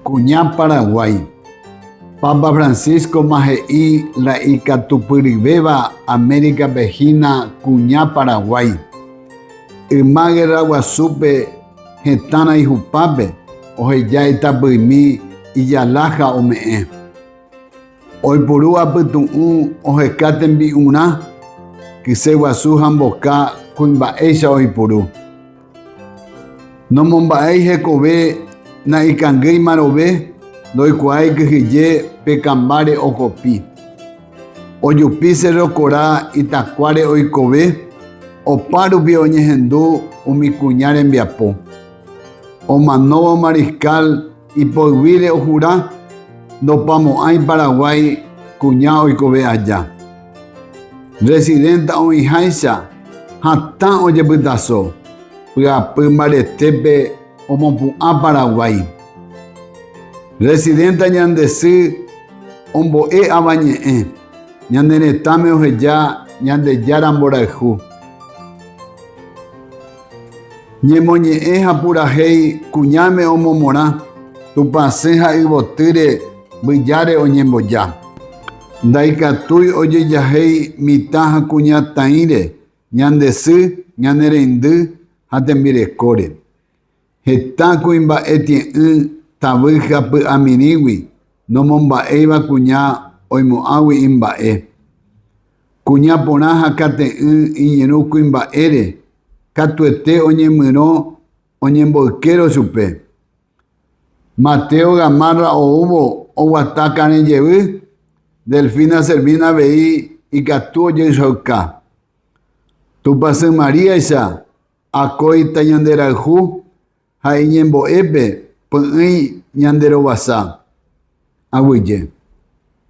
Kuña Paraguái. Papa Francisco-ma he'i la ikatupyryvéva América-pe hína kuña Paraguái. Yma guerra guasúpe hetãrã ihupápe oheja itapyimi ijala ha ome'ẽ. Oipuru apytu'ũ oheka tembi'urã, kyse guasu ha mboka kuimba'éicha oipuru. Nomomba'éi hekove na'ikangýima rove, ndoikuaái kyhyje pe kambáre okopi. Ojupi Sérro Kora itakuáre oikove, opa rupi oñehendu umi kuña rembiapo. Omanóvo Mariscal, Ipoyvire ojura ndopamo'ãi Paraguái kuña oikove aja. Residenta oĩháicha hatã ojepytaso pyapy mbaretépe omopu'ã Paraguái. Residenta ñande sy ombo'e Avañe'ẽ ñane retãme oheja Ñandejára mborayhu. Ñemoñe'ẽ ha purahéi kuñáme omomorã, tupãsẽ ha yvotýre mbyjáre oñemboja. Ndaikatúi ojejahéi mitã ha kuña taĩre ñande sy, ñane reindy ha tembirekóre. Heta kuimba'e tie'ỹ tavy ha py'amirĩgui nomomba'éiva kuña oimo'ãgui imba'e. Kuña porã ha kate'ỹ iñirũ kuimba'ére katuete oñemyrõ oñemboykérõ chupe. Mateo Gamarra oúvo oguata karẽ jevy, Delfina Servina avei ikatu ojehechauka. Tupãsy Maríaicha Akóita ñanderayhu ha iñembo'épe py'ỹi ñande rovasa. Aguyje.